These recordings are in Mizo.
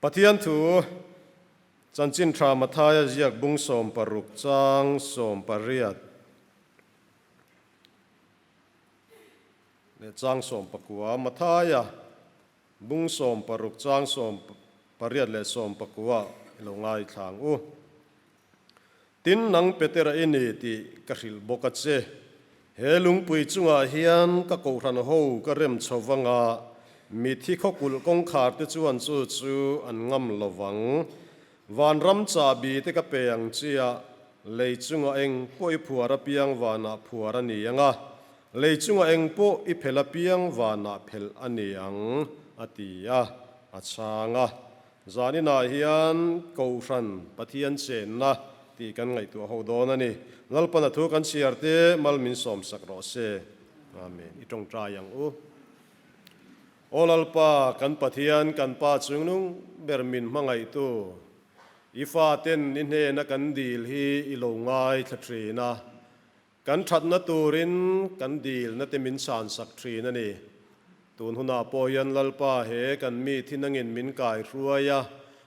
Pathian thu chanchin tha Mathaia ziak bung sawm paruk chang sawm pariat leh chang sawm pakua Mathaia bung sawm paruk chang sawm pariat leh sawm pakua i lo ngaithlang u. Tin, nang Petera i ni tih ka hrilh bawk a che. He lungpui chungah hian ka kohhran ho ka rem chho vanga mithi khawkulh kawngkhar te chuan chu chu an ngam lo vang. Vanram chahbi te ka pe ang chia lei chunga eng pawh i phuar apiang vanah phuar a ni ang a, lei chunga eng pawh i phelh apiang vanah phelh a ni ang a ti a, a chhang a. Zaninah hian Kohhran Pathian chenna tih kan ngaihtuah ho dawn a ni. Lalpana thu kan chhiar te mal min sawmsak rawh se. Amen. I tawngtai ang u. O Lalpa, kan Pathian, kan Pa chungnung ber min hmangaihtu, I Faten I hnena kan dil hi I lo ngaithla thin a, Kan thatna turin kan dilna te min san sak thin a ni. Tun hunah pawh hian Lalpa he kan mi thinangin min kai hruai a,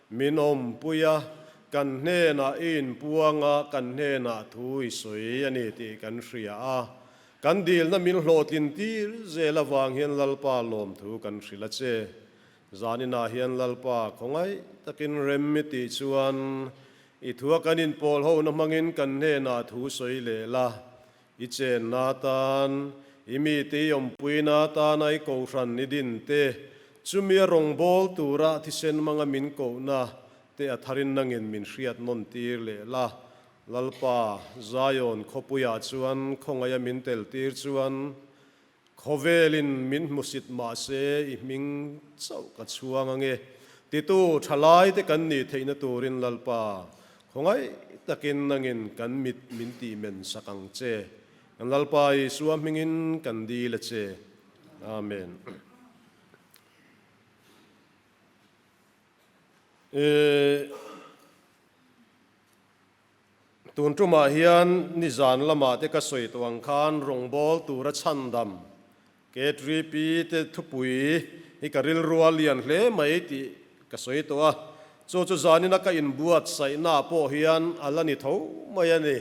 min awmpui a, kan hnenah i inpuang a, kan hnenah thu i sawi a ni tih kan hria a. Kan dilna min hlawhtlin tir zel avang hian Lalpa lawmthu kan hrilh a che. Zan inah hian Lalpa khawngaih takin remmi tih chuan i thu a kan inpawlhona hmangin kan hnenah thu sawi leh la. I chenna atan, i mite i awmpuina atana i kohhran i din te, chumi a rawngbâwl tura thisen hmanga min kohna te a tharin nangin min hriat nawn tir leh la. Lalpa Zion khawpuiah chuan khawngaih a min teltir chuan, Khawvelin min hmusit mahse i hming chauh ka chhuang ange titu thalaite kan nih theihna turin Lalpa khawngaih takin angin kan mit min tih men sak ang che. Kan Lalpa Isua hmingin kan dil a che. Amen. Ehh. Tun tumah hian nizan lama te ka sawi tawh ang khan rawngbâwl tura chhandam ke Tripi te thupui hi ka rilrua lian hle mai tih ka sawi tawh a, chu chu zanina ka inbuatsaihnaah pawh hian a la ni tho mai a ni.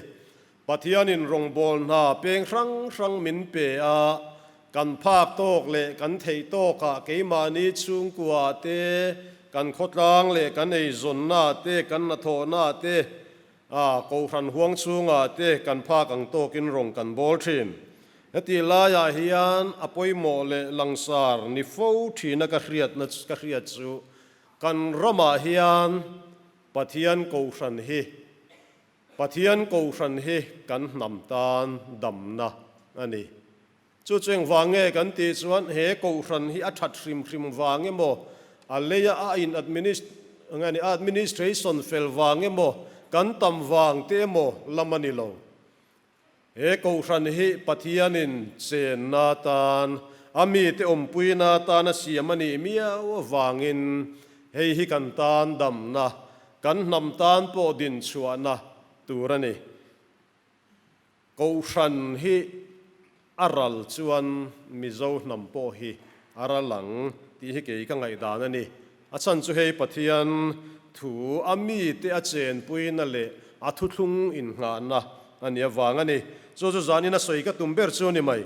Pathianin rawngbâwl hna peng hrang hrang min pe a, Kan phak tawk leh kan theih tawkah keimahni chhungkua te, kan khawtlang leh kan eizawnna te, kan hnathawhna te, kohhran huang chhunga te kan phak ang tawkin rawn kan bawl thin. Hetih laiah hian a pawimawh leh langsar ni fo thina ka hriatna ka hriat chu kan ramah hian Pathian kohhran hi Pathian Kohhran hi kan hnam tan damna a ni. Chu cheng vang nge kan tih chuan he Kohhran hi a that hrim hrim vang emaw, a leia a in administ nge ni, a administration fel vang emaw, kan tam vang te emaw lam a ni lo. He Kohhran hi Pathianin chenna atan a mite awmpuina atan a siam a nih miau avangin hei hi kan tan damna, kan hnam tan pawh dinchhuahna tur a ni. Kohhran hi. A ral chuan Mizo hnam pawh hi a ral ang tih hi kei ka ngaih dan a ni. A chhan chu hei Pathian thu a mite a chenpuina leh a thuthlung innghahna a ni avang a ni. Chu chu zanin a sawi ka tum ber chu a ni mai.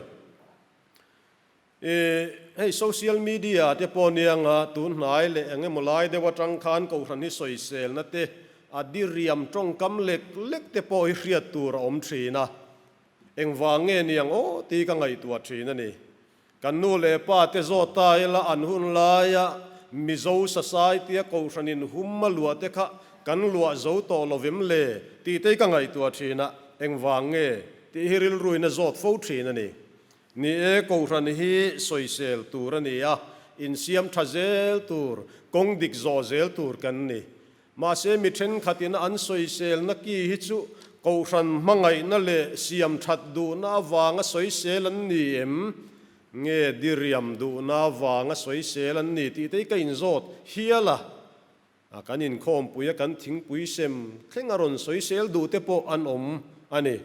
I hei social media te pawh anianga tunhnai leh eng emaw lai deuh atang khan Kohhran hi sawi selna te, a diriam tawngkam lek lek te pawh hi hriat tur a awm thin a. Engvang nge ni ang aw ti ka ngaihtuah thin a ni. Kan nu leh pa te zawta ila an hun laia Mizo Society a kohhran inhum a luah te kha kan luah zo tawh lo vem le tih te i ka ngaihtuah thin a, engvang nge tih hi rilruina zawt fo thin a ni. Ni e, kohhran hi sawisel tur a ni a, insiam tha zel tur, kawng dik zawh zel tur kan ni. Mahse, mi thenkhatin an sawiselna ki hi chu Kohhran hmangaihna leh siam that duhna avanga sawisel an ni em? Nge diriam duhna avanga sawisel an ni tih te hi ka inzawt hial a. Kan inkhawmpui a, kan thingpui sem thleng a rawn sawisel duh te pawh an awm a ni.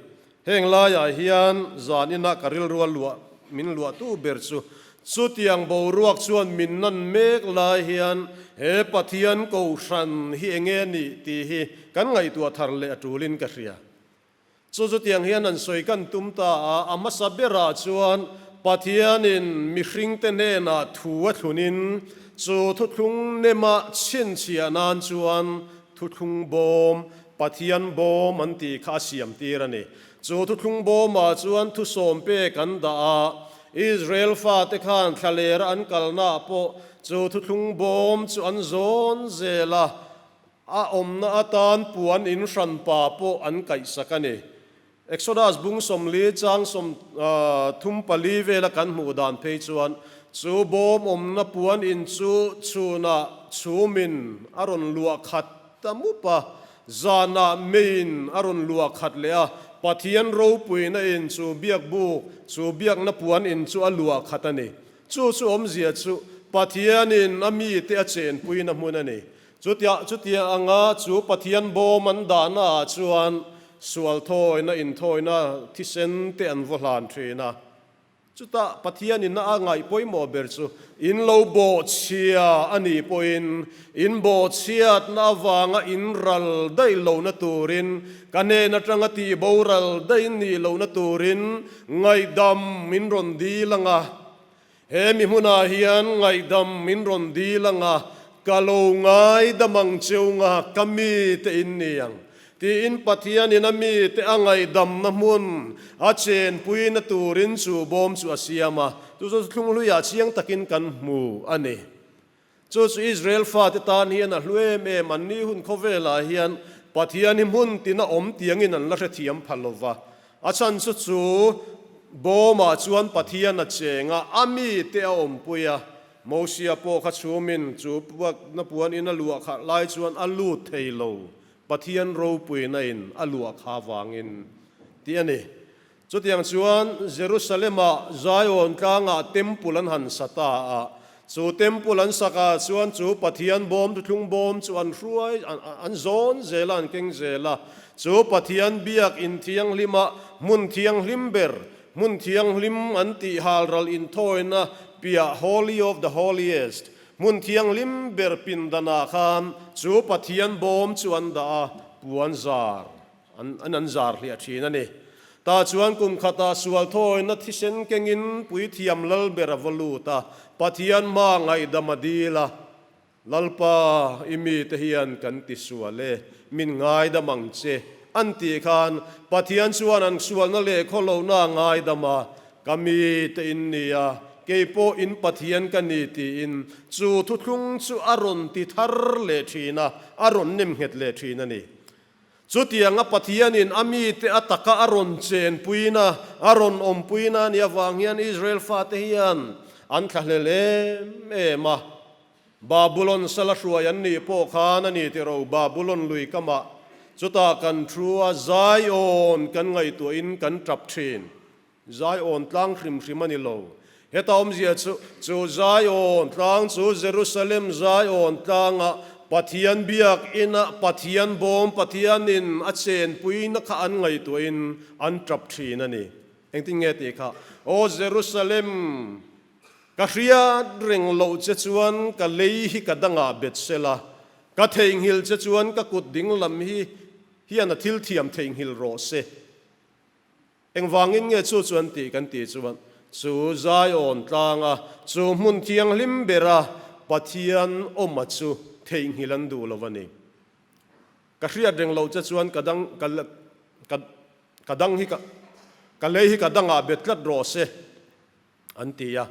Heng laiah hian zan inah ka rilrual luah min luah tu ber chu. Chutiang boruak chuan min nan mek lai hian he Pathian ko hran hi eng e ni tih hi kan ngaihtuah thar leh a tulin ka hria. Chu chu tiang hian an sawi kan tum ta a, a hmasa berah chuan Pathianin mihringte hnenah thu a thlunin chu thuthlung nema chhinchhiah nan chuan Thuthlung bawm, Pathian bawm an tih kha a siamtir a ni. Chu thuthlung bawmah chuan thu sawmpe kan dah a, Israel fate khan thlalera an kalnaah pawh chu thuthlung bawm chu an zawn zel a, a awmna atan puan inhran pa pawh an kaihsak a ni. Exodus bung sawmli chang sawm thum pali vela kan hmuh dan phei chuan chu bawm awmna puan in chu chhunah chhum in a rawn luah khat ta mup a, zanah mei in a rawn luah khat leh a, Pathian ropuina in chu biakbuk, chu biakna puan in chu a luah khat a ni. Chu chu awmzia chu Pathian in a mi te a chenpuina hmun a ni. Chutiah chutia anga chu Pathian bawm an dahnaah chuan sual thawina inthawina thisen te an vaw hlan thin a. Chutah Pathianin a ngaih pawimawh ber chu in lo bawhchhia a nih pawhin in bawhchhiatna avanga in ral daih lohna turin ka nen atanga tihbo ral daih nih lohna turin ngaihdam min rawn dil ang a. He mihmunah hian ngaihdam min rawn dil ang a, ka lo ngaidam ang cheunga ka mi te in ni ang, tiin Pathianin a mi te a ngaihdamna hmun a chenpuina turin chu bawm chu a siam a, chu chu thlunghluiah chiang takin kan hmu a ni. Chu chu Israel fate tan hian a hlu em em, annih hun khawvelah hian Pathian hi hmun tin a awm tiangin an la hrethiam pha lo va. A chhanchu chu bawmah chuan Pathian a cheng a, a mite a awmpui a. Mosia pawh kha chhumin chu Puakna puan in a luah khalh lai chuan a lut thei lo, Pathian ropuinain a luah kha avangin tih a ni. Chutiang chuan Jerusalema Zion tlangah Temple an han sa ta a, chu Temple an sak ah chuan chu Pathian Bawmthlung bawm chu an hruai an zawn zel a, an keng zel a, chu Pathian Biakinn thianghlima hmun thianghlim ber, hmun thianghlim an tih hal ral inthawina piah Holy of the Holiest, hmun thianghlim ber pindanah khan chu Pathian Bawm chu an dah a, puan zar. An an an zar hliah thin a ni. Ta chuan kum khata sual thawina thisen kengin puithiam lal ber a va lut a, Pathian hma ngaihdam a dil a, Lalpa, i mite hian kan ti sual e, min ngaidam ang che, an tih khan Pathian chuan an sualna leh khaw lohna a ngaidam a, Ka mite in ni a, kei pawh in Pathian ka ni tiin chu thuthlung chu a rawn ti thar leh thin a, a rawn nem nghet leh thin a ni. Chutianga Pathianin a mite a taka a rawn chenpuin a, a rawn awmpuin a nih avang hian Israel fate hian an thla hle hle em a. Babylon sala hruai an nih pawh khan a ni tiro, Babylon lui ka mah, chutah kan thu a, Zion kan ngaihtuahin kan tap thin. Zion tlang hrim hrim a ni lo. Heta awmzia chu, chu Zion tlang chu Jerusalem Zion tlanga Pathian Biakina Pathian bawm Pathianin a chenpuina kha an ngaihtuahin an tap thin a ni. Engtin nge tih kha, Aw Jerusalem, ka hriat reng loh che chuan ka lei hi ka dangah bet sela, ka theihnghilh che chuan ka kut dinglam hi hian a thil thiam theihnghilh rawh se. Engvângin nge chu chu an tih kan tih chuan, chu Zion tlânga chu hmun thianghlim bera Pathian awma chu theihnghilh an duh lo va ni? Ka hriat reng lo che chuan ka dang, ka, ka, ka dang hi ka, ka lei hi ka dangah bet tlat rawh se an ti a,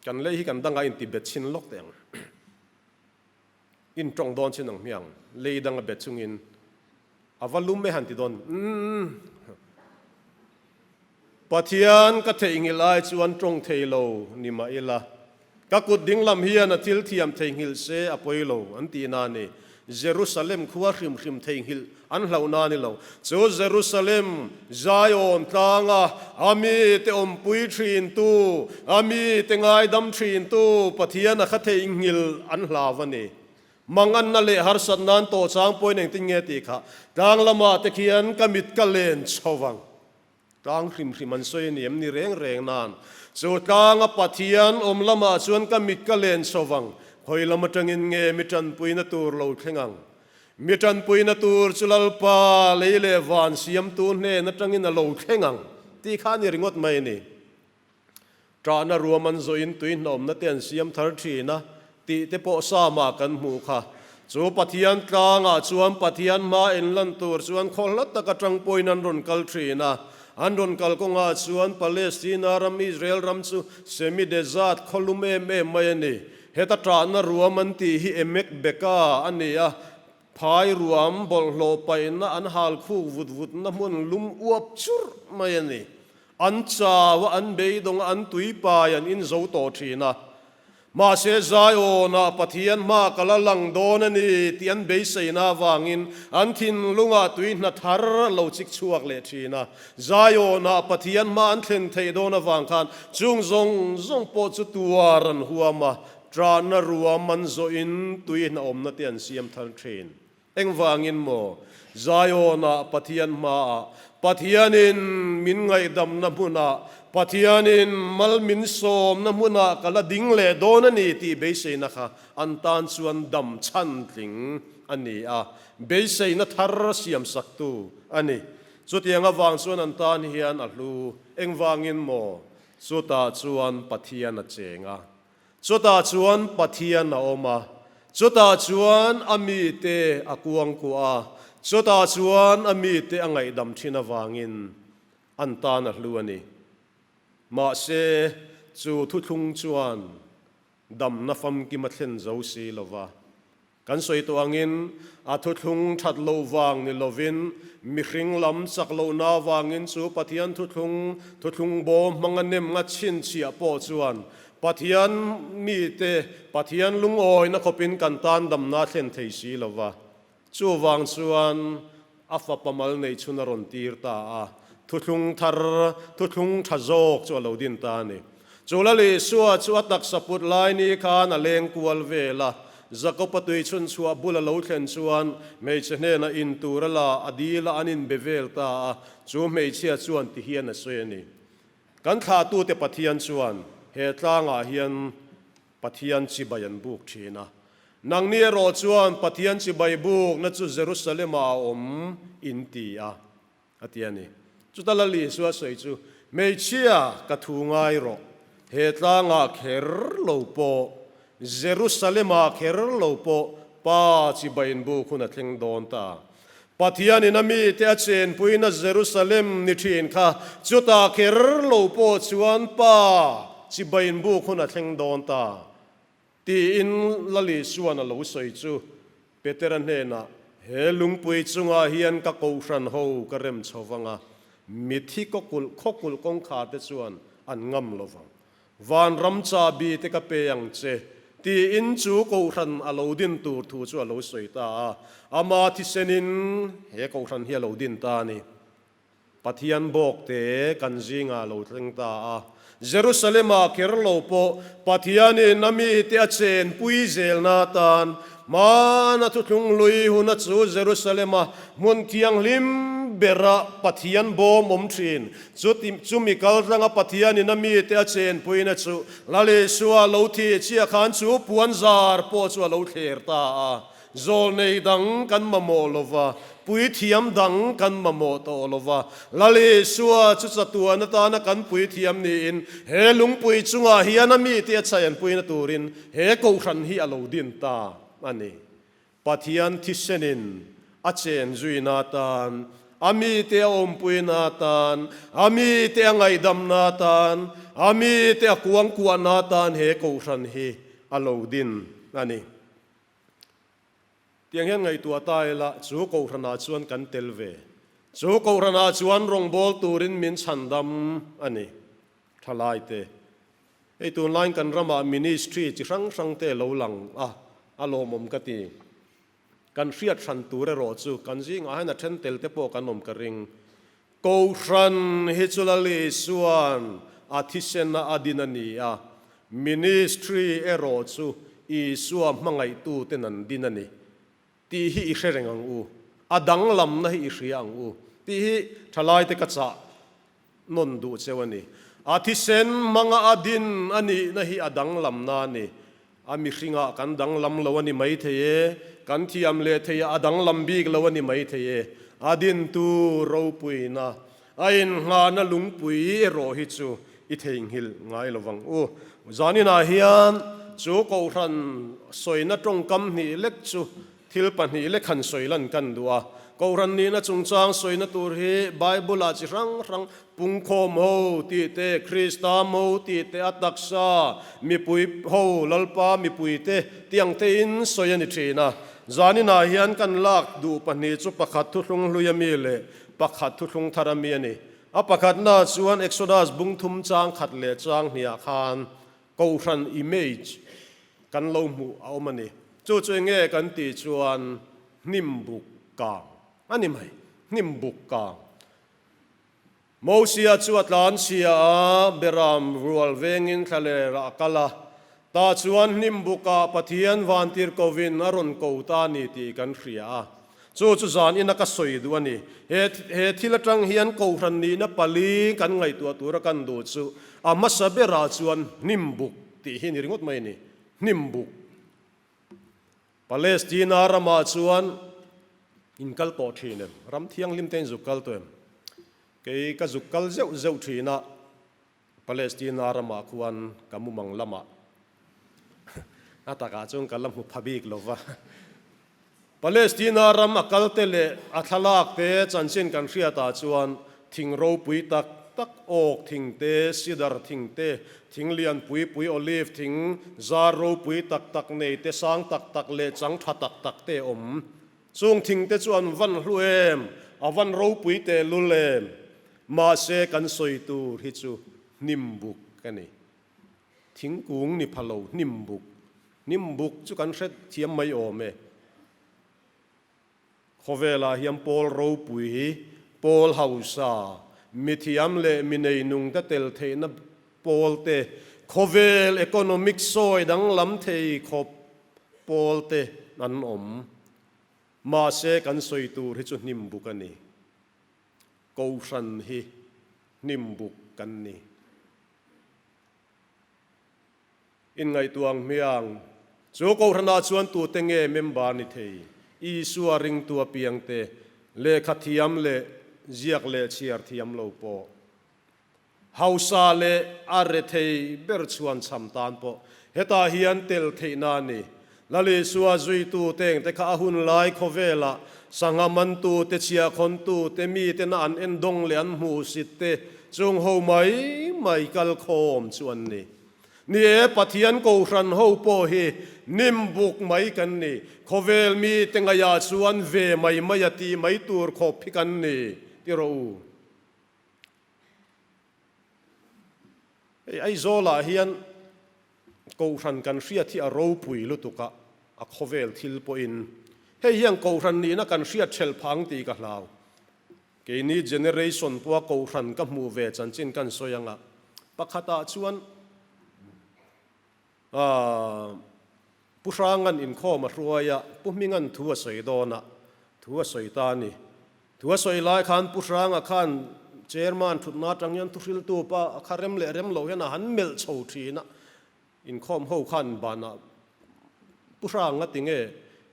kan lei hi kan dangah inti bet chhin lawk teh ang. In tawng dawn chin ang hmiang, lei dang a bet chung in a va lum e han ti dawn umm. Pathian ka theih nghilh ai chuan tawng thei lo ni mah ila, ka kut ding lam hian a thil thiam thei nghilh se a pawi lo an ti na ni. Jerusalem khua hrim hrim thei nghilh An hlauh na ni lo. Chu Jerusalem, Zion tlanga a mite awmpui thintu, a mite ngaidam thintu Pathian a kha theihnghilh an hlau a ni. Manganna leh harsat nan tawh chang pawi nen tin nge tih kha tlang lamah te khian ka mit ka len chho vang. Tlang hrim hrim an sawi a ni em ni reng reng nan chu tlang a pat hian awm lamah chuan ka mit ka len chho vang, hawi lam atangin nge mi tanpuina tur lo thleng ang? Mi tanpuina tur chu Lalpa lei leh van siamtu hnen atangin a lo thleng ang tih kha a ni ringawt mai a ni. Trahna ruam an zawhin tuihnawmnate an siam thar thin a tih te pawh Psalmah kan hmu kha. Chu Pathian tlangah chuan Pathian hma en lan tur chuan khaw hla taka ṭang pawhin an rawn kal thin a. An rawn kal kawngah chuan Palestina ram, Israel ram chu semi desert, khaw lum em em mai a ni. Heta trahna ruam an tih hi emek beka a ni a. Phai ruam bawlhhlawh paihna an hal khuk vut vutna hmun lum uap churh mai a ni. An chau-a an beidawng-a an tuipai an inzo tawh thin a. Mahse Zion-ah Pathian hma ka la lang dawn a ni tih an beiseina avangin an thinlungah tui hna thar a lo chik chhuak leh thin a. Zion-ah Pathian hma an thlen theih dawn avang khan chung zawng zawng pawh chu tuar an huam a. Trahna rua man zawhin tui hna awmnate an siam thar thin. Engvangin maw? Zion-ah Pathian hmaah Pathianin min ngaihdamna hmunah, Pathianin mal min sawmna hmunah ka la ding leh dawn a ni tih beiseina kha an tan chuan dam chhan tling a ni a, beiseina thar siam saktu a ni. Chutiang avang chuan an tan hian a hlu. Engvangin maw? Chutah chuan Pathian a cheng a. Chutah chuan Pathian a awm a, chutah chuan a mite a kuang kuah a, chutah chuan a mite a ngaihdam thin avangin an tan a hlu a ni. Mahse, chu thuthlung chuan damna famkim a thlen zo si lo va. Kan sawi tawh angin a thuthlung that lo vang ni lovin mihring lam chak lohna avangin chu Pathian thuthlung, thuthlung bo hmanga nem ngat chhinchhiah pawh chuan Pathian mite, Pathian lungawina khawpin kan tan damna a thlen thei si lo va. Chuvang chuan. A fapa mal nei chhun a rawn tir ta a, thuthlung thar, thuthlung tha zawk chu a lo din ta a ni. Chu lal Isua chu a taksa put lai ni khan a leng kual vel a. Jakopa tui chhun chhuah bul a lo thlen chuan hmeichhe hnenah in tura la a dila an inbe vel ta a, chu hmeichhia chuan ti hian a sawi a ni. Kan thlatute Pathian chuan he tlangah hian. Pathian chibai an buk thin a. Nangni erawh chuan Pathian chibai bukna chu Jerusalemah a awm, in ti a, a ti a ni. Chuta lal Isua sawi chu, Hmeichhia, ka thu ngai rawh, he tlangah kher lo pawh, Jerusalemah kher lo pawh Pa chibai inbuk hun a thleng dawn ta a, Pathianin a mite a chenpuina Jerusalem ni thin kha chuta kher lo pawh chuan Pa, chibai in buk hun a thleng dawn ta, tiin Lali chuan a lo sawi chu. Petera hnenah, He lungpui chungah hian ka kohhran ho ka rem chho vang a, mi thi khawkulh khawkulh kawngkharte chuan an ngam lo vang. Van ram cha bi te ka pe ang che, tiin chu Kohhran a lo din tur thu chu a lo sawi ta a. Ama thisen in he Kohhran hi a lo din ta a ni. Pathian bawk te kan zingah a lo thleng ta a. Jerusalema ker lo pawh Pathian in a mi te a chen pui zelna atan hman a thuthlung lui hun a chu Jerusalema hmun thianghlim berah Pathian bawm awm thin Chuti chumi kal tlanga Pathian ina mite a chenpuina chu Lal Isua lo thi chiah khan chu puan zar pawh chu a lo thler ta a. Zawl nei dang kan mamawh lo va, puithiam dang kan mamawh tawh lo va. Lal Isua chu chatuan atana kan puithiam niin he lungpui chungah hian a mite a chenpuina turin he kohhran hi a lo din ta a ni. Pathian thisenin a chen zuina atan, a mite a awmpuina atan, a mite a ngaihdamna atan, a mite a kuangkuahna atan he kohhran hi a lo din a ni. Tiang hian ngaihtuah ta ila chu kohhranah chuan kan tel ve. Chu kohhranah chuan rawngbâwl turin min chhandam a ni. Thalaite. Hei tunlain kan ramah ministry chi hrang hrang te lo lang a, a lawmawm ka ti. Kan hriat hran tur erawh chu kan zingah hian a then tel te pawh kan awm ka ring. Kohhran hi chu Lal Isuan a thisena a din a ni a, ministry erawh chu Isua hmangaihtu ten an din a ni. Tih hi i hre reng ang u, a danglamna hi i hria ang u, tih hi thalaite ka chah nawn duh cheu a ni. A thisen hmanga a din a nihna hi a danglamna a ni. A mihringah kan danglam lo a ni maithei e, kan thiam leh theihah a danglam bik lo a ni maithei e, a dintu ropuina A inngahna lungpui erawh hi chu i theihnghilh ngai lo vang u. Zaninah hian chu Kohhran sawina tawngkam hnih lek chu thil pahnih lek han sawi lan kan duh a. Kohhran nihna chungchang sawina tur hi Bible-a chi hrang hrang, pungkhaw mo tih te, Krista mo tih te, a taksa, mipui ho, lalpa mipui te tih ang tein sawi a ni thin a. Zaninah hian kan lak duh pahnih chu pakhat thuhlung hluia mi leh Pakhat thuthlung thar ami a ni. A pakhatna chuan Exodus bungthum chang khat leh chang hniah khan Kohhran image kan lo hmuh a awm a ni. Chu chu enge kan tih chuan hnim buk kang a ni mai. Hnim buk kang. Mosia chu a tlan chhia a, Beram rual vengin thlaler a kal a. Tah chuan hnimbukah Pathian vântir kovin a rawn ko ta ni tih kan hria a, chu chu dân in a ka sawi duh a ni. He he thil aṭang hian kohhran nihna pali kan ngaihtuah tur a kan duh chu a hmasa berah chuan hnimbuk tih hi a ni ringawt mai a ni. Hnimbuk. Palestina ramah chuan in kal tawh ṭhin em? Ram thianghlimte in zuk kal tawh em? Kei ka zuk kal zeuh zeuh ṭhinah Palestina ramah khuan ka mumang lamah a takah chuan ka la hmu pha bik lo va. Palestina ram a kalte leh a thlalakte chanchin kan hriat ah chuan thing ropui tak tak, oak thing te, cedar thing te, thing lian pui pui, olive thing, zar ropui tak tak, neite sang tak tak leh chang tha tak tak te a awm. Chung thing te chuan van hlu em, a van ropui teh lul em, mahse kan sawi tur hi chu hnim buk a ni. Thingkung ni pha lo hnim buk, hnim buk chu kan hret thiam mai awm e. Khawvelah hian pawl ropui hi pawl hausa, mithiam leh mineinung te tel theihna pawlte, khawvel economic sawi danglam thei khawp pawlte an awm. Mahse kan sawi tur hi chu hnim buk a ni. Kohhran hi hnim buk kan ni. Inngaihtuah ang hmiang, chu Kohhranah chuan tute nge member ni thei, Isua ringtu apiangte, lehkha thiam leh ziak leh chhiar thiam lo pawh Hausa leh a rethei ber chuan chham tan pawh hetah hian tel theihna a ni. Lalisua zuitu te engte kha a hun lai khawvelah sangha mantu te, chiahkhawntu te, miten a an en dawng leh an hmuh sit te chung ho mai mai kal khawm chu an ni. Ni e, Pathian Kohhran ho pawh hi nim buk mai kan ni. Khawvel mi te ngaihah chuan ve mai mai a tih mai tur khawp phik an ni ti rawh u. Hei Aizawlah hian Kohhran kan hriat hi a ropui lutuk a, a khawvel thil pawhin hei hian Kohhran nihna kan hriat ṭhelh phang tih ka hlau. Keini generation pawha Kohhran ka hmuh ve chanchin kan sawi anga pakhatah chuan, A pu Hrangan inkhawm a hruai a, pu Hmingan thu a sawi dawn a, thu a sawi ta a ni. Thu a sawi lai khan pu Hranga khan Chairman thutna atang hian thu hriltu pa a kha rem leh rem lo hian a han melh chho thin a, inkhawm ho khan banah pu Hrang a ti nge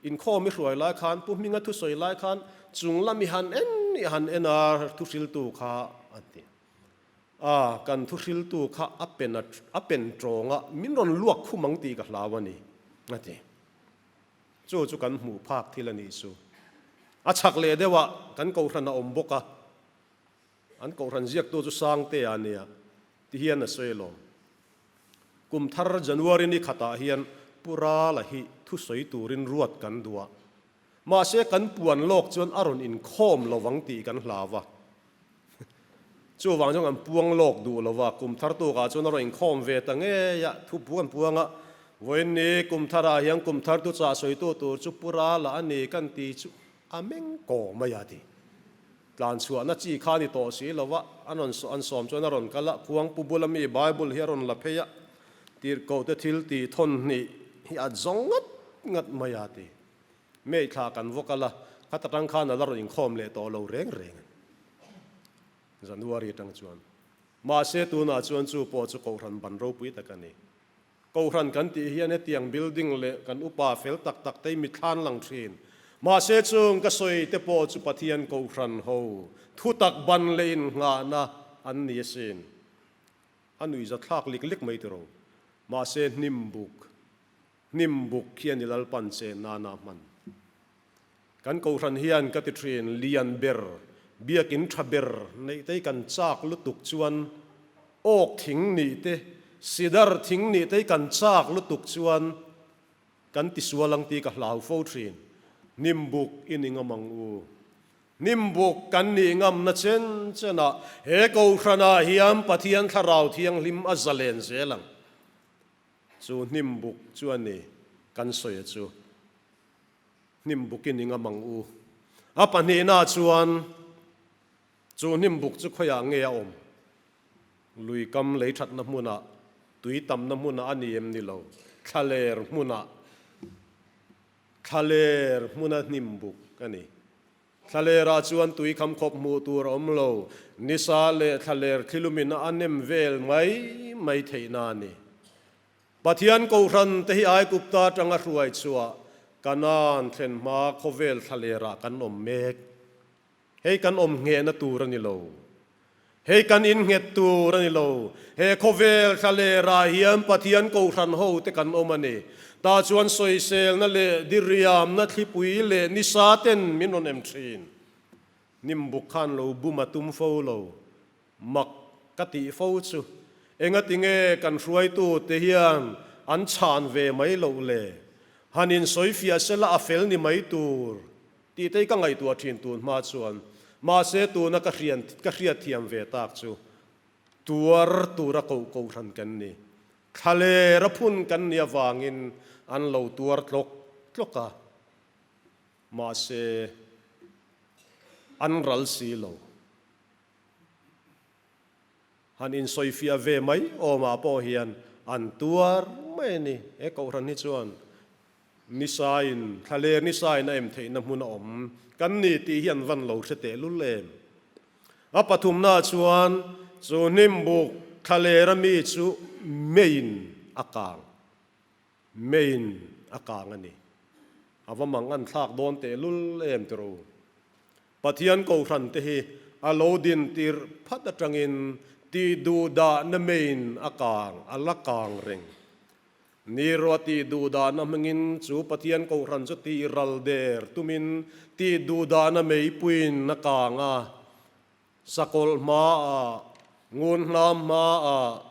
inkhawm i hruai lai khan pu Hminga thu sawi lai khan chunglam i han en i han en a thu hriltu kha a ti. A, kan thuhriltu kha a pen a a pen tawng a, min rawn luak khum ang tih ka hlau a ni, a ti. Chu chu kan hmuh phak thil a nih chu. A chhak leh deuhah kan kohhran a awm bawk a, an kohhran ziaktu chu Sangtea a nia ti hian a sawi lo. Kum thar January ni khatah hian Pu Rala hi thusawi turin ruat kan duh a, Mahse kan puan lawk chuan a rawn inkhawm lo vang tih kan hla va. Chuvang chuan kan puang lawk duh lo va, kum thar tukah chuan a rawn inkhawm ve ta ngei a, thu pu kan puang a. Vawiinni, kum tharah hian kum thar tu chah sawitu tur chu Pura la a ni kan ti chu a meng kawh mai a ti. Tlan chhuahna chi kha a ni tawh si lo va, an rawn an sawm chuan a rawn kal a, khuang pu bula mi Bible hi a rawn la phei a, tirhkohte thil tihthawn hnih hi a zawng ngat ngat mai a ti. Mei thla kan vaw kal a, khata tang khan a la rawn inkhawm leh tawh lo reng reng a ni. January atang chuan. Mahse tunah chuan chu pawh chu Kohhran ban ropui tak a ni. Kohhran kan tih hian hetiang building leh kan upa fel tak tak te mi thlan lang thin. Mahse chung ka sawi te pawh chu Pathian Kohhran ho thutak ban leh innghahna an ni asin. A nuih zathlak lik lik mai tiro. Mahse hnimbuk. Hnim buk hian i lalpan che nana hman. Kan kohhran hian ka ti thin, lian ber, biakin tha ber neitei kan chak lutuk chuan oak thing nih te, cedar thing nih tei kan chak lutuk chuan kan ti sual ang ti ka hlau fo thin. Hnim buk i ni ngam ang u. Hnim buk kan nih ngam na chen chen ah he kohhran ah hian Pathian thlarau thianghlim a za len zel ang. Chu hnim buk chu a ni, kan sawi a chu. Hnim buk i ning a mang u. A pahnihnaah chuan, Chu hnim buk chu khawiah nge a awm? Lui kam lei thatna hmunah, tui tamna hmunah a ni em ni lo? Thlaler hmunah, thlaler hmuna hnim buk a ni. Thlalera chuan tui kham khawp hmuh tur a awm lo. Nisa leh thlaler thlilumin a nem vel mai mai theihna a ni. Pathian Kohhran te hi Aigupta atanga hruai chhuah Canaan thlen hma khawvel thlalera kan awm mek. Hei kan awm nghehna tur a ni lo. Hei kan innghet tur a ni lo. He khawvel thla leh rah hian Pathian Kohhran ho te kan awm a ni. Tah chuan sawiselna leh diriamna thlipui leh ni sa ten min rawn em thin. Hnimbuk khan lo bum a tum fo lo. Mak ka tih fo chu. Engatinge kan hruaitu te hian an chhan ve mai loh le. Han insawi fiah sela a fel ni mai tur Titei ka ngaihtuah thin tun hma chuan, mahse tuna ka hrian ka hriatthiam ve tak chu tuar tura koh koh hran kan ni. Thlaler a phun kan nih avangin an lo tuar tlawk tlawk a, mahse an ral si lo. Han insawifiah ve mai awmah pawh hian an tuar mai a ni. He koh hran hi chuan Nisain, thla leh nisain a em theihna hmun a awm kan ni tih hi an van lo hre tehlul em? A pathumnaah chuan chu hnimbuk thla leh rami chu May-in a kang, May-in a kang a ni. A va mang an thlak dawn tehlul em tiro. Pathian Kohhran te hi a lo din tirh phat atangin tih duh dahna May-in a kang, a la kang reng. Ni rua ti duh dahna hmangin chu Pathian Kohhran chu ti ral der tumin ti duh dahna meipuiin a kang a. Sakawlh hmaah, ngun hlam hmaah,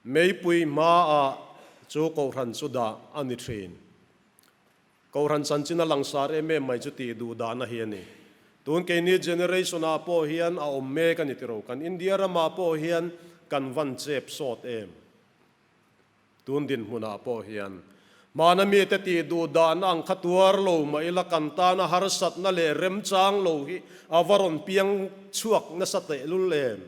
meipui hmaah chu Kohhran chu dah a ni thin. Kohhran chanchin a langsar em em mai chu ti duh dahna hi a ni. Tun keini generation ah pawh hian a awm mek a ni tiro. Kan India ramah pawh hian kan van chep sawt em. Tun dinhmunah pawh hian mahna mite tih duh dahna ang kha tuar lo mah ila kan tana harsatna leh remchang lo hi a va rawn piang chhuak nasa tehlul em?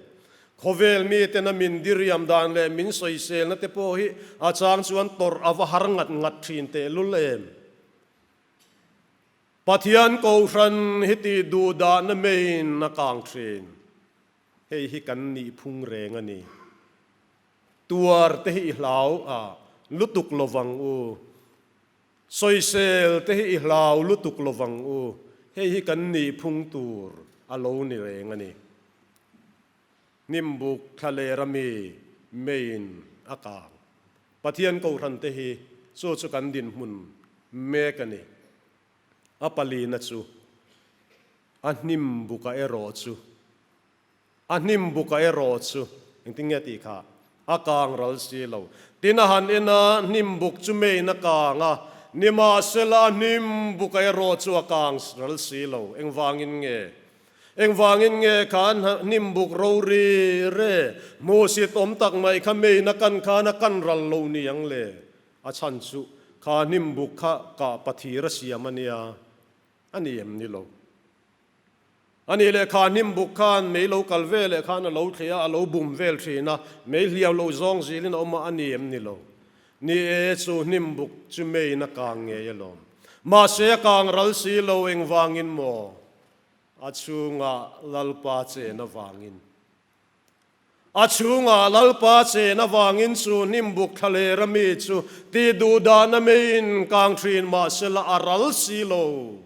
Khawvel mitena min diriam dan leh min sawiselna te pawh hi a chang chuan tawrh a va har ngat ngat thin tehlul em? Pathian Kohhran hi tih duh dahna meiin a kang thin. Hei hi kan nih phung reng a ni. Tuar te hi i hlau a lutuk lovang u. Sawisel te hi i hlau lutuk lovang u. Hei hi kan nih phung tur a lo ni reng a ni. Hnimbuk thlalera mi Main a kang. Pathian Kohhran te hi chu chu kan dinhmun mek a ni. A palina chu a hnimbuk a erawh chu. A hnim buk a erawh chu, engtin nge tih kha a kang ral si lo. Tin a han en a, hnim buk chu meiin a kang a, nimahsela a hnim buk a erawh chu a kang ral si lo. Engvangin nge? Engvangin nge kha hnim buk ro ri re? Hmuhsit awm tak mai kha meiin a kan khan a kan ral lo niang le. A chhan chu kha hnim buk kha kah pathir a siam a nia. A ni em ni lo. A nih leh kha hnim buk khan mei lo kal ve leh khan a lo thleh a, a lo bum vel thin a, mei hliau lo zawng zil in a awm a, a ni em ni lo. Ni e, chu hnim buk chu mei in a kang ngei alawm. Mahse a kang ral si lo engvangin maw? A chhungah Lalpa chen avangin. A chhungah Lalpa chen avangin chu hnimbuk thla leh rami chu ti duh dahna meiin kang thin mahsela a ral si lo.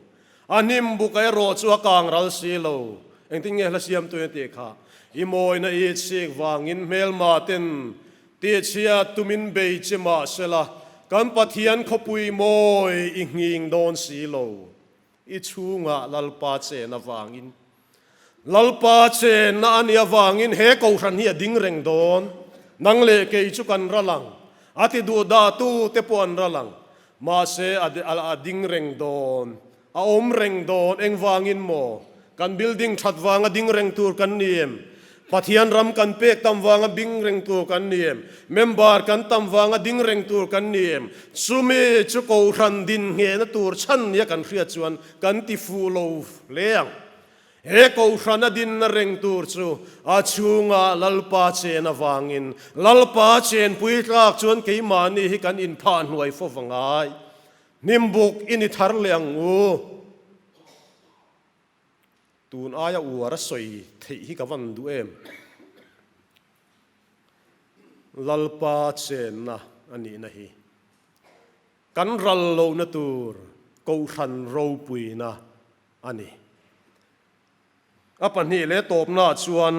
A hnimbuk erawh chu a kang ral si lo. Engtin nge hla siamtuin a tih kha? I mawina i chhik vangin hmelmaten tihchhiat tumin bei che mahsela kan Pathian khawpui mawi i nghing dawn si lo. I chhunga Lalpa chen avangin Lalpa chen na ani avangin he kohhran hi a ding reng dawn. Nang leh kei chu kan ra lang. A ti duh dah tu te pawh an ra lang. Mahse a ding reng dawn. A awm reng dawn. Engvangin maw? Kan building that vang a ding reng tur kan ni em? Pathian ram kan pek tam vanga bing reng tur kan ni em? Member kan tam vanga ding reng tur kan ni em? Chumi chu kohhran din nghehna tur chhan nia kan hriat chuan kan ti fuh lo hle ang. He kohhrana dinna reng tur chu a chhunga Lalpa chen avangin Lalpa chen puitlak chuan keimahni hi kan inphah hnuai fo vangai. Hnimbuk i ni thar leh ang u. Tun aia uar a sawi theih hi ka van duh em. Lalpa chenna a nihna hi kan ral lohna tur Kohhran ropuina a ni. A pahnih leh tawpna ah chuan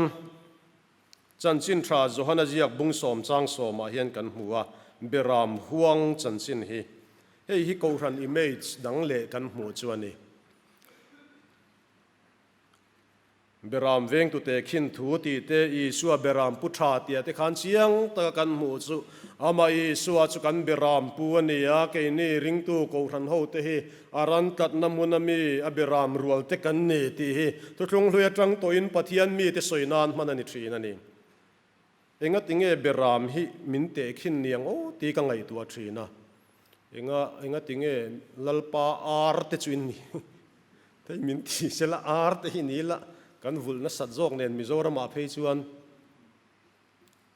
chanchin tha Johanaziak bung sawm chang sawm ah hian kan hmu a, Beram huang chanchin hi. Hei hi Kohhran image dang leh kan hmuh chu a ni. Beram vengtute khin thu ti te, Isua beram pu tha tia te khan chiang taka kan hmuh chu Amah Isua chu kan beram pu a ni a, keini ringtu kohhran ho te hi a ran tlatna hmun a mi a beram rual te kan ni tih hi thutlung hlui atang tawhin Pathian mite sawi nan hman a ni thin a ni. Enga tinge Beram hi min tehkhin ni ang aw ti ka ngaihtuah thin a, enga enga tinge Lalpa ar te chu inni thei min ti se la ar te hi ni la kan vulh nasat zawk nen Mizoramah phei chuan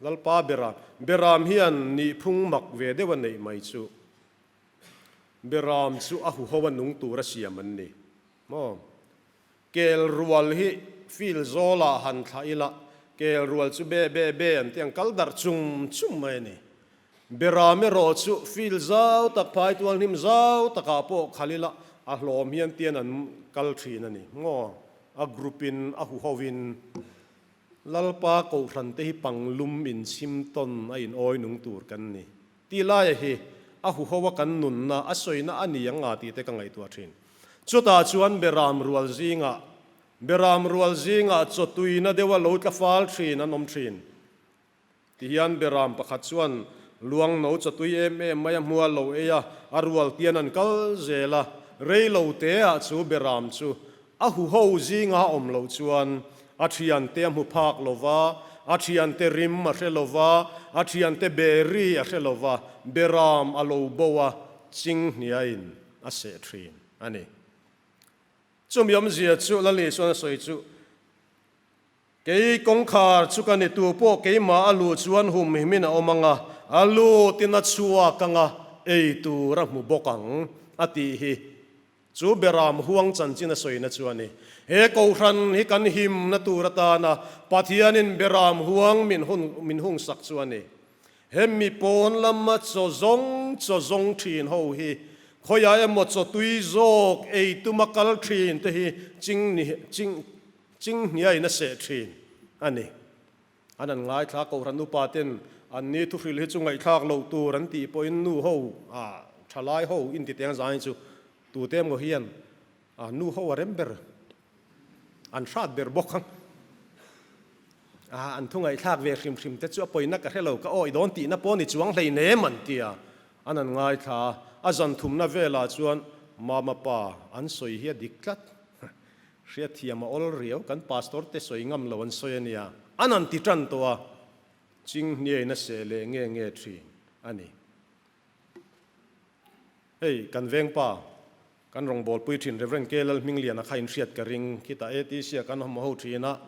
Lalpa Beram Beram hian nih phung mak ve deuh a neih mai chu Beram chu a huho a nung tur a siam an ni maw. Kel rual hi field zawlah han thla ila, kel rual chu be be be an tih ang, kal darh chum chum mai a ni. Berram erawh chu field zau tak, phai tual hnim zau takah pawh khal ila a hlawm hian tian an kal thin a ni maw? A group in a hu ho in Lalpa Kohhran te hi panglum inchhim tawn a in awi nung tur kan ni. Ti laia hi a huhoa kan nunna a sawina a ni anga tite ka ngaihtuah thin. Chutah chuan Beram rual zingah, Beram rual zingah chaw tuina deuh a lo tlafal thin an awm thin. Tihian Beram pakhat chuan Luangno chaw tui em em mai a hmual lo ei a, a rual tian an kal zel a, rei lo te ah chu Beram chu A huho zinga awm loh chuan a thiante a hmu phak lo va, a thiante rim a hre lo va, a thiante berry a hre lo va, beram a lo bo a, ching hniain a seh thin a ni. Chumiawmzia chu Lali chuan a sawi chu. Kei kawngkhar chu ka ni, tu pawh keimah a luh chuan hum him in a awm ang a, a lut in a chhuak ang a, ei tur a hmu bawk ang, a ti hi. Chu Beram huang chanchin a sawina chu a ni. He kohhran hi kan himna tur atana Pathianin Beram huang min hun min hung sak chu a ni. He mi pawn lama chaw zawng chaw zawng thin ho hi khawiah emaw chaw tui zawk ei tuma kal thin te hi ching ni ching Ching hniai na seh thin a ni. An han ngaithla kohhran upa ten anni thuhril hi chu ngaihthlak lo tur an tih pawhin nu ho a thalai ho intiteng zang hi chu tute emaw hian a nu ho a rem ber an hrat ber bawk ang a an thu ngaithlak ve hrim hrim te chu a pawina ka hre lo ka awi dawn tihna pawh ni chuang hlei nem an ti a an han ngaithla a a zan thumna velah chuan mama pa an sawi hi a dik tlat. Hriatthiam a awl riau, kan Pastor te sawi ngam lo an sawi a nia, an han ti tan tawh a, Chinghnhia in a seh leh nge nge thin a ni. Hei kan Vengpa, kan Rawngbawl Puithin Rev. K. Lalhmingliana kha inhriat ka ring, khitah ATC a kan awm ho thin a,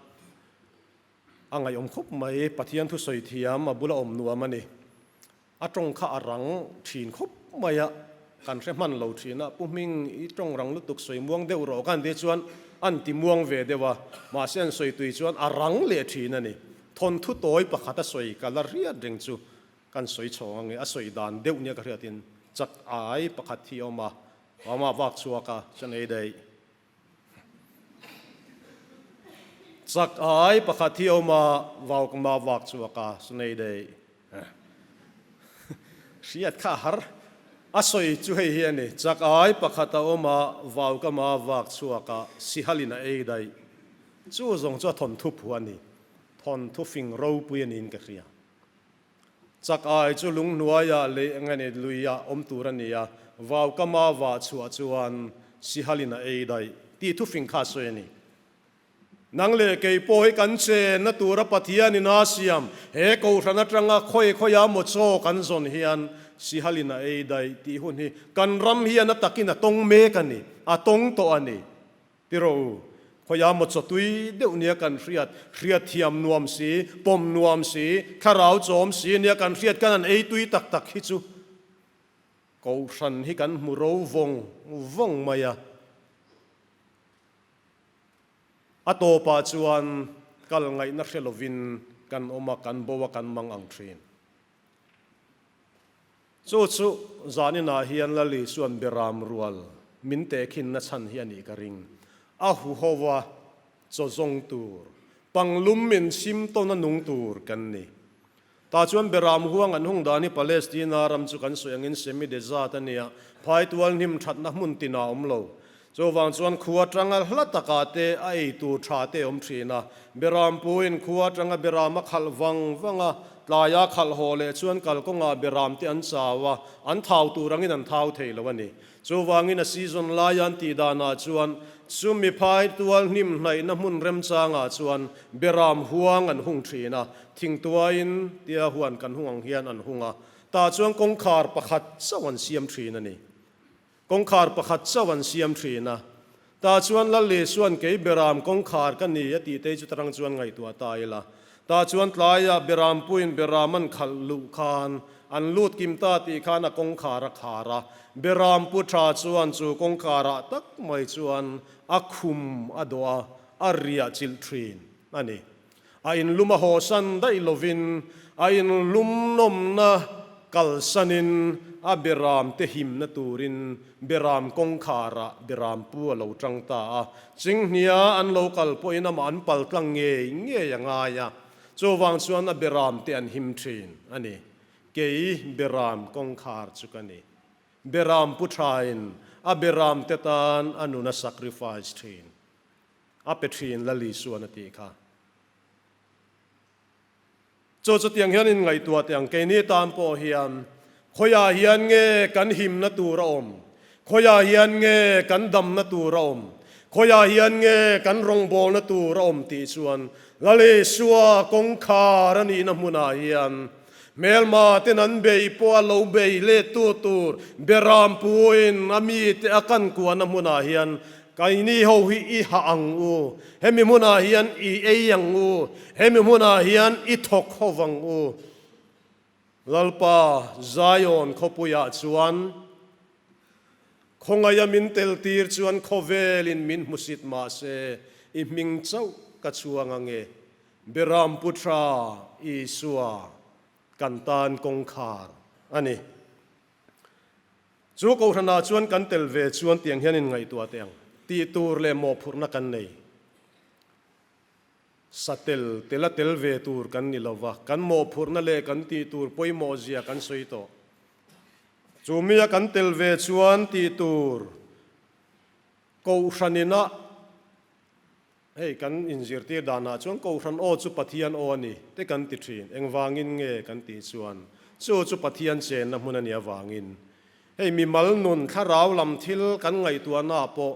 A ngaihawm khawp mai, Pathian thu sawi thiam a bula awm nuam a ni. A tawng kha a rang thin khawp mai a, kan hre hman lo thin a, Pu Hming i tawng rang lutuk sawi muang deuh rawh ka han ti chuan an ti muang ve deuh a, mahse an sawi tui chuan a rang leh thin a ni. Thawnthu tawi pakhat a sawi ka la riat reng chu kan sawi chhawng ange, a sawi dan deuh nia ka hriatin chat ai pakhat hi a awm a, Mamah vak chhuak a, chuan ei daih. Chak ai pakhat hi awm a, vau ka mah vak chu a ka nei daih. Hriat kha a har. A sawi chu hei hi a ni, Chak ai pakhat a awm a, vau ka mah vak chhuak a, sihal in a ei daih. Chu zawng chu a thawnthu phu a ni. Thawnthu fing ropui a niin ka hria. Chak ai chu lunghnuaia leh nge nih luia awm tur a ni a, vau ka mava chhuah chuan Sihalin a ei daih tih thufing kha sawi a ni. Nang leh kei pawh hi kan chenna tura Pathianin a siam, he Kohhran atanga khawi khawiah maw chaw kan zawn hian Sihalin a ei daih tih hun hi kan ram hian a takin a tawng mek a ni, a tawng tawh a ni. Ti rawh u, khawia mawtsaw tui deuh nia kan hriat, hriat thiam nuam si, pawm nuam si, thlarau chawm si nia kan hriat, kan han ei tui tak tak hi chu Kohhran hi kan hmu ro vawng vawng mai a. A tawpah chuan kal ngaihna hre lovin kan awm a, kan bo a, kan mang ang thin. Chu chu zanin ah hian Lali chuan Biram rual min teh khin na chhan hi a nih ka ring. A hu ho a, chaw zawng tur, panglum min chim tawn a nung tur kan ni. Tah chuan Biram huang an hung dan hi Palestina ram chu kan sawi angin semi-desert a nia, phai tual hnim thatna hmun tinah a awm lo. Chuvang chuan khu atanga hla taka te a ei tur tha te awm thin a. Beram puin khu atanga beram a khalh vang vang a, tlai a khalh haw leh chuan kalkawnga beram te an chau a, an thau tur angin an thau thei lo a ni. Chuvangin a season laia an tih danah chuan chu miphai tual hnim hnaihna hmun remchangah chuan beram huang an hung thin a, thingtuaiin tia huan kan hung ang hian an hung a, tah chuan kawngkhar pakhat chauh an siam thin a ni. Kawngkhar pakhat chauh an siam thin a, ta chuan Lalli chuan kei Beram kawngkhar ka ni a tih tei chu tarang chuan ngaihtuah ta ila, ta chuan tlaiah Berampuiin Beram an khalh luh khan an lut kim ta tih khan a kawngkhar a khar a, Berampu tha chuan chu kawngkarah tak mai chuan a khum a dawh a, a riah chilh thin a ni. A in lum a hawsan daih lovin a in lum nawmna kalsanin a Beram te himna turin Beram kawngkhar ah Beram pu a lo tang ta a. Chinghnia an lo kal pawhin amah an pal tlang ngei ngei a ngai a. Chuvang chuan a Beram te an him thin a ni. Kei Beram kawngkhar chu ka ni. Beram pu thain a Beram te tan a nuna sacrifice thin. A pe thin la Lisuan a tih kha. Chu chutiang hian in ngaihtuah teh ang, keini tan pawh hian khawiah hian nge kan himna tur a awm, khawiah hian nge kan damna tur a awm, khawiah hian nge kan rawngbawlna tur a awm tih chuan la Lisua kawngkhar a nihna hmunah hian Hmelma ten an bei pawh a lo bei lettu tur Beram pu in a mi te a kan kuahna hmunah hian Kaini ho hi i hah ang u, hemi hmunah hian i ei ang u, hemi hmunah hian i thawk ho vang u. Lalpa Zion khawpuiah chuan khawngaia min tel tir chuan khawvelin min hmusit mahse i hming chauh ka chuang ange. Biram Putra Isua kan tan kawngkhar a ni. Chu kohhranah chuan kan tel ve chuan tiang hian in ngaihtuah teh ang tih tur leh mawhphurhna kan nei. Satel tela tel ve tur kan ni lo va, kan mawhphurhna leh kan tih tur pawimawhzia kan sawi tawh. Chu mia kan tel ve chuan tih tur kohhran inah Hei kan inzirtir danah chuan Kohhran aw chu Pathian aw a ni te kan ti thin, engvangin nge kan tih chuan chu chu Pathian chenna hmun a nih avangin hei mimal nun thlarau lam thil kan ngaihtuahnaa pawh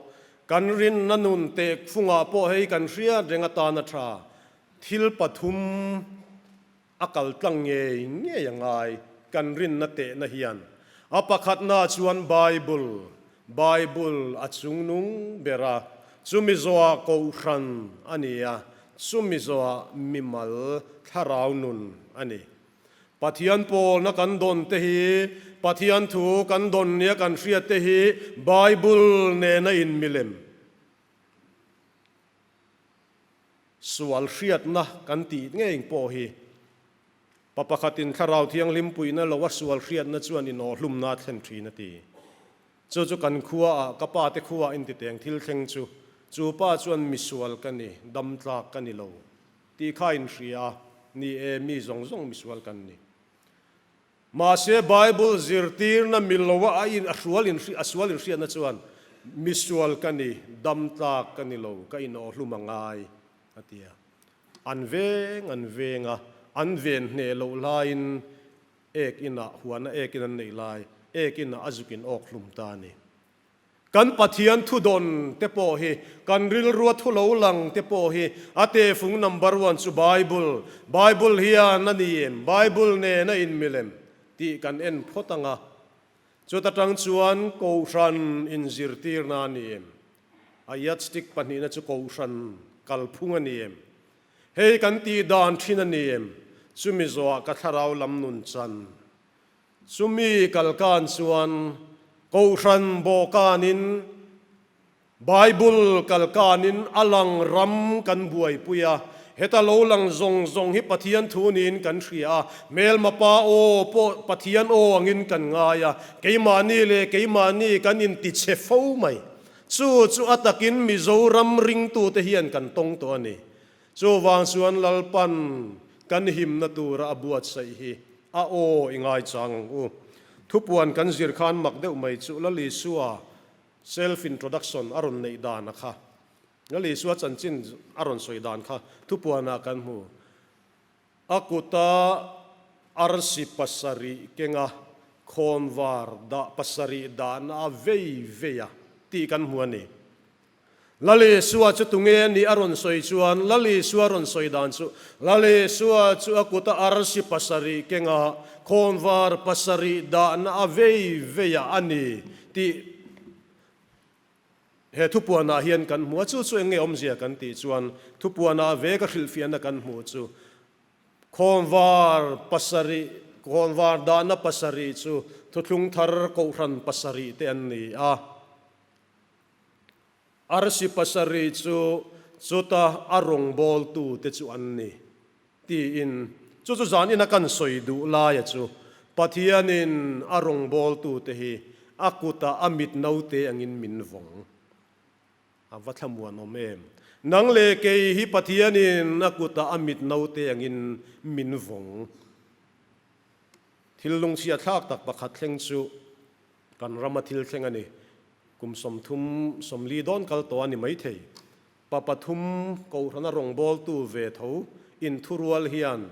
kan rinna nun teh phungah pawh hei kan hriat reng atana tha thil pathum A kaltlang ngei ngei a ngai kan rinna tehna hian a pakhatna chuan Bible, Bible a chung nung ber a, chu Mizoa Kohhran a ni a, chu Mizoa mimal thlarau nun a ni. Pathian pawlna kan dawn te hi, Pathian thu kan dawn nia kan hriat te hi Bible nena in milem. Sual hriatna kan tih ngeiin pawh hi pa pakhatin Thlarau Thianghlim puihna loha sual hriatna chuan i naw hlumna a thlen thin a ti. Chu chu kan khuaah ka pa te khuaa intiteng thil thleng chu chu pa chuan misual ka ni, damtlak ka ni lo tih kha a inhria a ni e, mi zawng zawng misual kan ni. Mahse, Bible zirtirna miloa a in a hrual in a sual in hriatna chuan misual ka ni, damtlak ka ni lo, ka inawh hlum a ngai a ti a. An veng an veng a, an ven hneh loh hlaiin ek inah huana ekin an neih lai, ek inah a zukin awk hlum ta a ni. Kan Pathian thudawn te pawh hi kan rilrua thu lo lang te pawh hi a tehfung number one chu Bible, Bible hian a ni em, Bible nen a in milem tih kan en phawt ang a, chuta tang chuan Kohhran in zirtirna a ni em, a yardstick pahnihna chu Kohhran kalphung a ni em, hei kan tih dan thin a ni em, chumi zawh ah ka thlarau lam nun chan. Chumi kal kan chuan Kohhran Bawkan in Bible kal kan in a lang ram kan buaipui a, heta lo lang zawng zawng hi Pathian thu niin kan hria a, Hmelmapa aw pawh Pathian aw angin kan ngai a, keimahni leh keimahni kan intichhe fo mai. Chu chu a takin Mizoram ringtute hian kan tawng tawh a ni. Chuvang chuan Lalpan kan himna tura a buatsaih hi a aw i ngaichang ang u. Thupuan kan zir khan mak deuh mai chu Lalisua self introduction a rawn neih dan a kha, Lalisua chanchin a rawn sawi dan kha Thupuana kan hmu. A kuta arsi pasarih kenga khawnvar dah pasarih dahna a vei vei a tih kan hmu a ni. Lal Isua chu tunge a nih a rawn sawi chuan Lal Isua rawn sawi dan chu Lal Isua chu a kuta arsi pasarih kenga khawmvar pasarih dahna a vei veiah a ni tih he thupuanah hian kan hmu a, chu chu eng nge awmzia kan tih chuan thupuana a veka hrilhfiahna kan hmuh chu khawmvar pasarih khawmvar dahna pasarih chu thuthlung thar kohhran pasarih te an ni a. Arsi pasarih chu chuta a rawngbawltu te chu an ni, tiin chu chu zan ina kan sawi duh laia chu Pathianin a rawngbawltute hi a kuta a mit naute angin min vawng. A va thlamuan awm em! Nang leh kei hi Pathianin a kuta a mit naute angin min vawng. Thil lungchhiatthlak tak pakhat thleng chu Kan rama thil thleng a ni. Kum sawmthum sawmli dawn kal tawh a ni maithei. Pa pathum Kohhrana rawngbawltu ve tho in thurual hian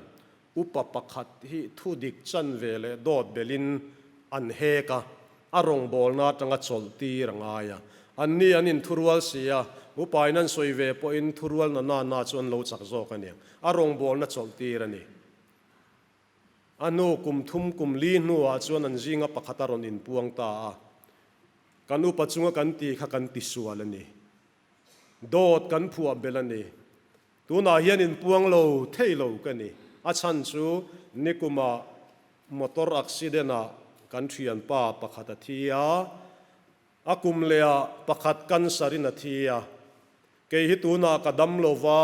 upa pakhat hi thudik chan ve leh dawt belhin an hek a, a rawngbawlna atanga chawlh tir a ngai a. Anni an in thurual si a, upain an sawi ve pawhin thurualna nanna chu an lo chak zawk a ni. A rawngbawlna chawlh tir a ni. A nu kum thum kum li hnuah chuan an zinga pakhat a rawn inpuang ta a, Kan upa chunga kan ti kha kan ti sual a ni. Dawt kan phuah belh a ni. Tunah hian inpuang lo thei lo ka ni. A chhan chu nikuma motor accident ah kan thianpa pakhat a thi a, a kum leha pakhat cancer in a thi a. Kei hi tunah ka dam lo va.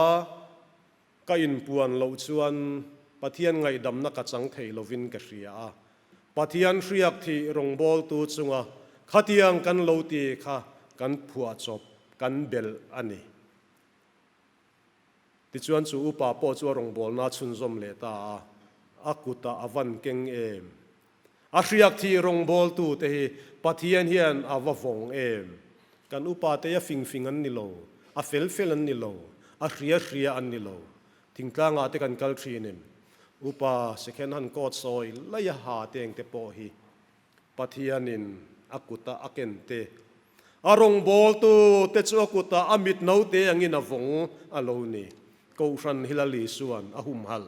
Ka inpuan loh chuan Pathian ngaihdamna ka chang thei lovin ka hria a. Pathian hriak thih rawngbawltu chunga khatiang kan lo ti kha kan phuah chawp, kan belh a ni. Tichuan chu upa pawh chu a rawngbawlna a chhunzawm leh ta a, a kutah a van keng em. A hriak thih rawngbawltute hi Pathian hian a va vawng em? Kan upa te a fingfing an ni lo, a felfel an ni lo, a hriahria an ni lo. Thingtlangah te kan kal thin em? Upa second hand coat sawi lei a ha teng te pawh hi Pathianin a kuta a ken te, a rawngbawltute chu a kuta a mitno te angin a vawng a lo ni. Kohhran hila li chuan a humhalh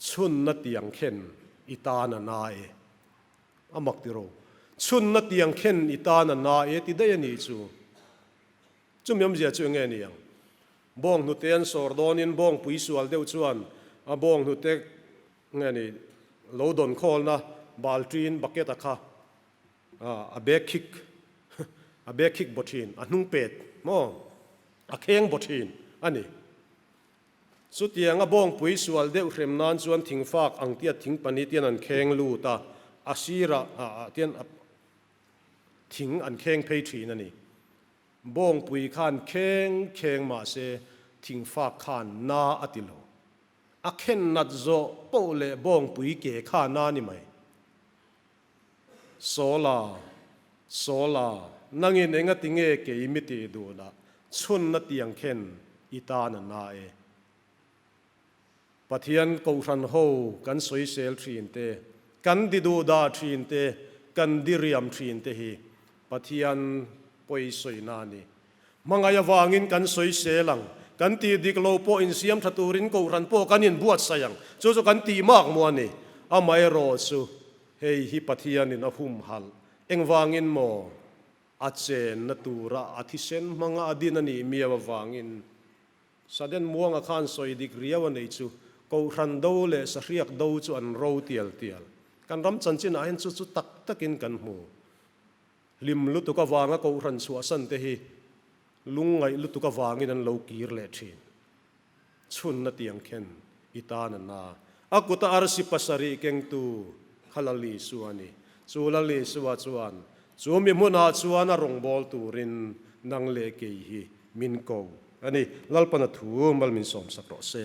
Chhunna tiang khen i tan a na e. A mak tiraw? Chhunna tiang khen i tan a na e ti daih a nih chu. Chumi awmzia chu enge aniang? Bawng hnute an sawr dawnin bawng pui sual deuh chuan a bawng hnute nge ni lo dawn khawlna baltin, bucket, a kha a bag khik a bag khik baw thin, a hnung pet maw a kheng baw thin a ni. Chutianga bawngpui sual deuh hrem nan chuan thingfak ang tiat thing pahnih te hian an kheng lut a, a sira ah ah te hian a thing an kheng phei thin a ni. Bawngpui khan kheng kheng mah se thingfak khan na a ti lo. A khen nat zawh poh leh bawngpui ke kha na ni mai. Sawla, Sawla, nangin enga tinge kei mi tih duhlah chhunna tiang khen i tan a na e. Pathian Kohhran ho kan sawisel thin te, kan di duhdah thin te, kan di riam thin te hi Pathian pawi sawina a ni. Hmangaih avangin kan sawisel ang. Kan tih dik lo pawh insiam tha turin kohhran pawh kan inbuatsaih ang. Chu chu kan tih mak maw a ni? Amaherawh chu, hei hi Pathianin a humhalh. Engvangin maw? A chenna tura a thisen hmanga a din a nih miau avangin. Saden muanga khan sawi dik riau a nei chu, kohhran do leh sahriak do chu an ro tial tial. Kan ram chanchinah hin chu chu tak takin kan hmu. Hlim lutuk avanga kohhran chhuahsan te hi lungngaih lutuk avangin an lo kir leh thin. Chhunna tiang khen i ta nana a kuta arsi pasarih kengtu kha Lalisu a ni. Chu Lalisua chuan chumi hmunah chuan a rawngbâwl turin nang leh kei hi min ko a ni. Lalpana thu mal min sawmsak rawh se.